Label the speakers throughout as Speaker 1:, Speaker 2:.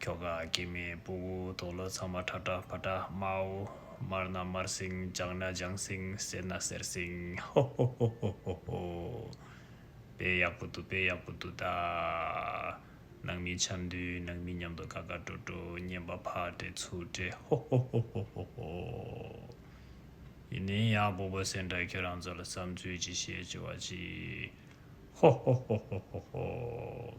Speaker 1: ཁྱོ་ག་སྐྱེས་མའི་སྤུ་བོ་དོ་ལོ་ཚང་མ་ཁྲ་ཁྲ་ཕ་ཁྲ་དམའོ། དམར་ན་དམར་སིང་ལྗང་ན་ལྗང་སིང་སེར་ན་སེར་སིང་ཧོ་ཧོ་ཧོ་ཧོ་ཧོ་ཧོ། དཔེ་ཡག་པོ་འདུག་དཔེ་ཡག་པོ་འདུག་ད། ནང་མི་འཆམ་མདུད་ནང་མི་མཉམ་དུ་ཀ་ཀ་ཀྲོ་ཀྲོ་སྙན་པ་ཕག་བྲེ་ཚུག་བྲེ་ཧོ་ཧོ་ཧོ་ཧོ་ཧོ་ཧོ། ཡིན་ནའི་ཡག་སྤུ་བོ་སེར་འདྲ་ཁྱོད་རང་ཚོ་ལ་བསམ་ཚུལ་ཅི་བཤད་ཅི་བ་ཅི། ཧོ་ཧོ་ཧོ་ཧོ་ཧོ་ཧོ།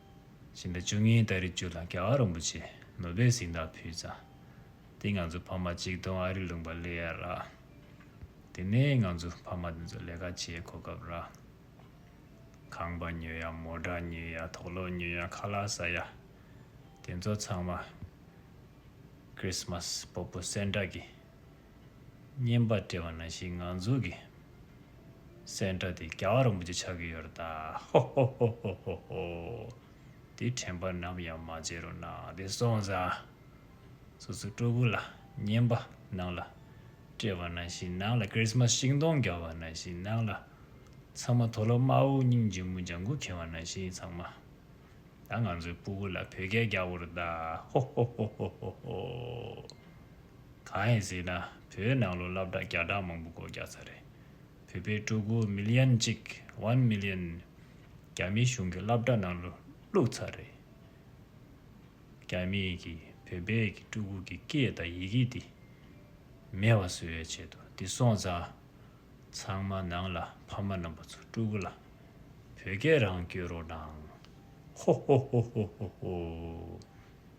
Speaker 1: བཞིན་པའི་བཅུ་ལྔའི་སྟ་རེ་བཅུ་ལ་ཀ་བ་རིན་པོ་ཆེ་ནོར་པའི་གཟིགས་མདངས་ཕུལ། ཙང་སྟེ་ང་ཚོ་ཕ་མ་གཅིག་སྟོང་ཨ་རི་ལུང་པ་ལེ་ཡར་རག། དེ་ནས་ང་ཚོ་ཕ་མ་དེ་ཚོ་ལས་ཀ་བྱེད་གོ་སྐབས་རག། ཁང་པ་ཉོས་ཡ་མོ་བྲ་ཉོས་ཡ་དོག་ལོག་ཉོས་ཡ་ཁ་ལག་ཟ་ཡ། དེ་ཚོ་ཚང་མ། Christmas། སྤོ་སྤོ་སེར་འདྲ་གི། བསྙེན་པ་བཀྲལ་བ་ན་ཞིག་ངང་འཛུགས་ཀྱི། སེང་སྒྲ་དེ་ག་བ་རིན་པོ་ཆེ་ཆགས་ཀྱི་ཡོད་རེད་ད། ཧོ་ཧོ་ཧོ་ཧོ་ཧོ་ཧོ། དེ་དྲན་པ་ནམ་ཡང་མ་བརྗེད་རོགས་གནང་དེ་སོང་ཙང། སོ་སོའི་སྤྲུལ་སྐུ་ལ་བསྙེན་པ་གནང་ལ། བཀྲལ་བ་ན་ཞིག་གནང་ལ Christmas ཤིང་སྡོང་ག་བ་ན་ཞིག་གནང་ལ། ཚང་མ་དོ་ལོ་དམར་བོ་སྙིང་རྗེ་མོ་ལྗང་གུ་ག་བ་ན་ཞིག་ཚང་མ། ད་ང་ཚོའི་སྤུ་གུ་ལ་བོད་སྐད་རྒྱག་པོ་རུ་གདའ། ཧོ་ཧོ་ཧོ་ཧོ་ཧོ་ཧོ། གང་ཡིན་ཟེར་ན་བོད་ནང་ལོ་ལབ་དྲག་རྒྱག་དྲག་མང་པོ་སྒོ་རྒྱག་ཚར་རེད། བོད་པའི་སྤྲུ་གུ Million གཅིག One Million རྒྱ་མི་གཞུང་གི་ལབ་དྲག་ནང་ལོ་བླུགས་ཚར་རེད། རྒྱ་མི་གིས་བོད་པའི་གི་སྤྲུ་གུ་གི་སྐད་དང་ཡི་གེ་འདི་མེད་བ་བཟོས་བའི་ཆེད་དུ་འདི་སོང་ཙང་ཚང་མ་ནང་ལ་ཕ་མ་རྣམ་པ་ཚོ་སྤྲུ་གུ་ལ་བོད་སྐད་རང་བསྐྱོད་རོགས་གནང། ཧོ་ཧོ་ཧོ་ཧོ་ཧོ་ཧོ།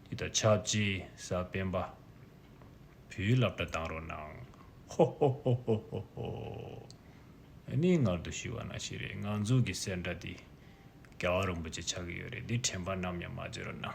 Speaker 1: འདི་ད་ཆབ་ཅེས་ས་སྤེན་པ། བུའི་ལབ་སྒྲ་གཏང་རོགས་གནང། ཧོ་ཧོ་ཧོ་ཧོ་ཧོ་ཧོ། ཨ་ནི་ངར་དུ་ཞུ་བ་ན་ཞིག་རེད་ང་ཚོ་གི་སེར་འདྲ་འདི། རྒྱ་བ་རིན་པོ་ཆེ་ཆགས་ཀྱི་ཡོད་རེད་འདི་དྲན་པ་ནམ་ཡང་མ་བརྗེད་རོགས་གནང།